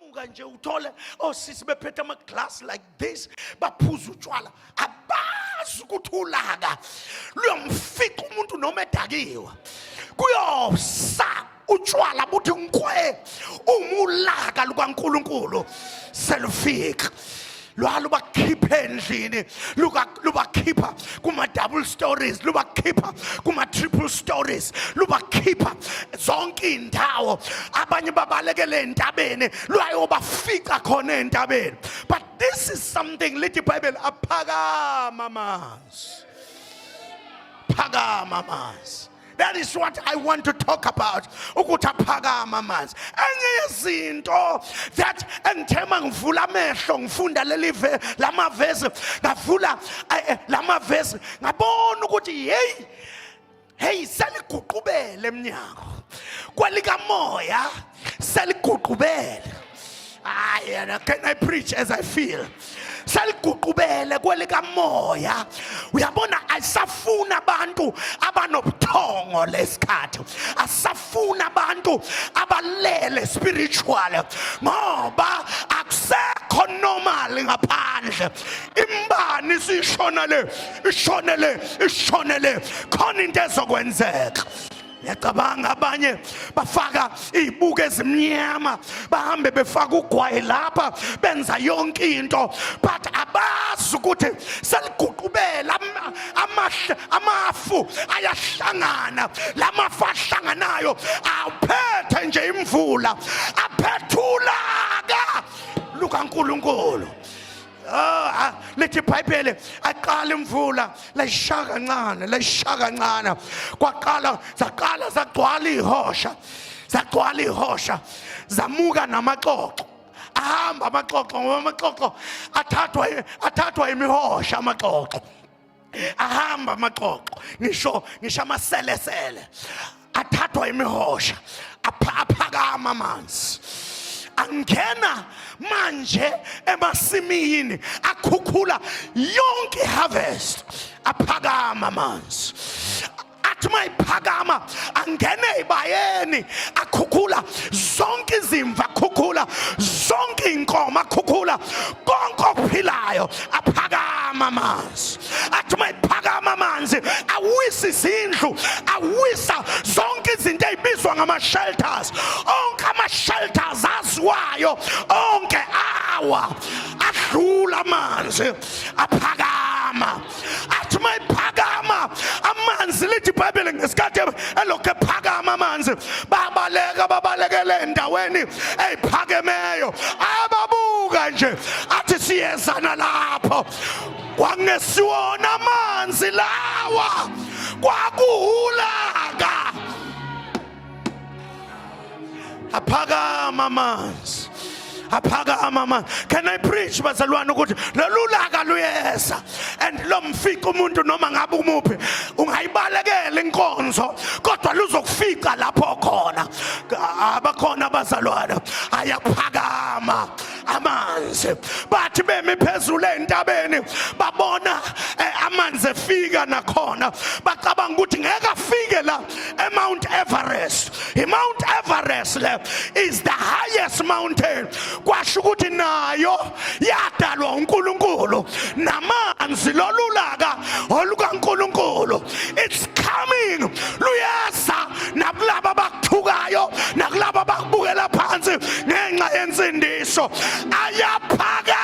muka nje uthole osisi oh, bephethe amaglass like this baphuza utshwala abazi ukuthi ulaka luyomfica umuntu noma edakiwe kuyosa utshwala buthi nkwe umulaka lukaNkuluNkulu selufika lwalubakhipha endlini lubakhipha kuma-double stories lubakhipha kuma-triple stories lubakhipha zonke iy'ndawo abanye babalekele entabeni lwayobafica khona entabeni but this is something lithi ibhayibheli aphakama amanzi phakama amanzi That is what I want to talk about. Ukuthi aphakama amanzi. Enye yezinto that engithema ngivula amehlo ngifunda leli lama verse ngavula eh, eh, lama verse ngabona ukuthi hey hey seliguqubele eminyango kwelikamoya seliguqubele hayi yena can i preach as i feel seliguqubele kwelikamoya uyabona asafuna abantu abanobuthongo lesikhathi asafuna abantu abalele spiritual ngoba akusekho normal ngaphandle imbani sishona le ishone le ishone le khona into ezokwenzeka Ngiyacabanga abanye bafaka izibuko ezimnyama bahambe befaka ugwayi lapha benza yonke into but abazi ukuthi seliguqubela amahle amafu ayahlangana lamafu ahlanganayo awuphethe nje imvula aphethulaka lukaNkuluNkulu Ah, lithi ibhayibheli aqala imvula layisha kancane layisha kancane kwaqala zaqala zagcwala ihosha zagcwala ihosha zamuka namaxoxo ahamba amaxoxo ngoba amaxoxo athathwa athathwa imihosha amaxoxo ahamba amaxoxo ngisho ngisho amaselesele athathwa imihosha aphakama amanzi angena manje emasimini akhukhula yonke harvest aphakama amanzi athi uma iphakama angene ebayeni akhukhula zonke izimva akhukhula zonke iy'nkomo akhukhula konke okuphilayo aphakama amanzi athi uma iphakama amanzi awisa izindlu awisa zonke izinto ey'bizwa ngama-shelters onke ama-shelters aziwayo onke awa adlula amanzi aphakama athi uma iphakama amanzi lithi ibhayibheli ngesikhathi elokhu ephakama amanzi babaleka babalekele endaweni eyiphakemeyo ababuka nje athi siyezana lapho kwangesiwona amanzi lawa kwakuhulaka aphakama amanzi aphakama amanzi can i preach bazalwane ukuthi lolu laka luyeza and lo mfica umuntu noma ngabe umuphi ungayibalekela inkonzo kodwa luzokufica lapho khona abakhona abazalwane ayaphakama amanzi bathi bemi phezulu ezintabeni babona eh, amanzi efika nakhona bacabanga ukuthi ngeke afike la eMount Everest iMount Everest le is the highest mountain kwasho ukuthi nayo yadalwa uNkulunkulu namanzi lolulaka olukaNkulunkulu it's coming luyeza nakulabo abakuthukayo nakulabo abakubukela phansi ngenxa yensindiso ayaphakama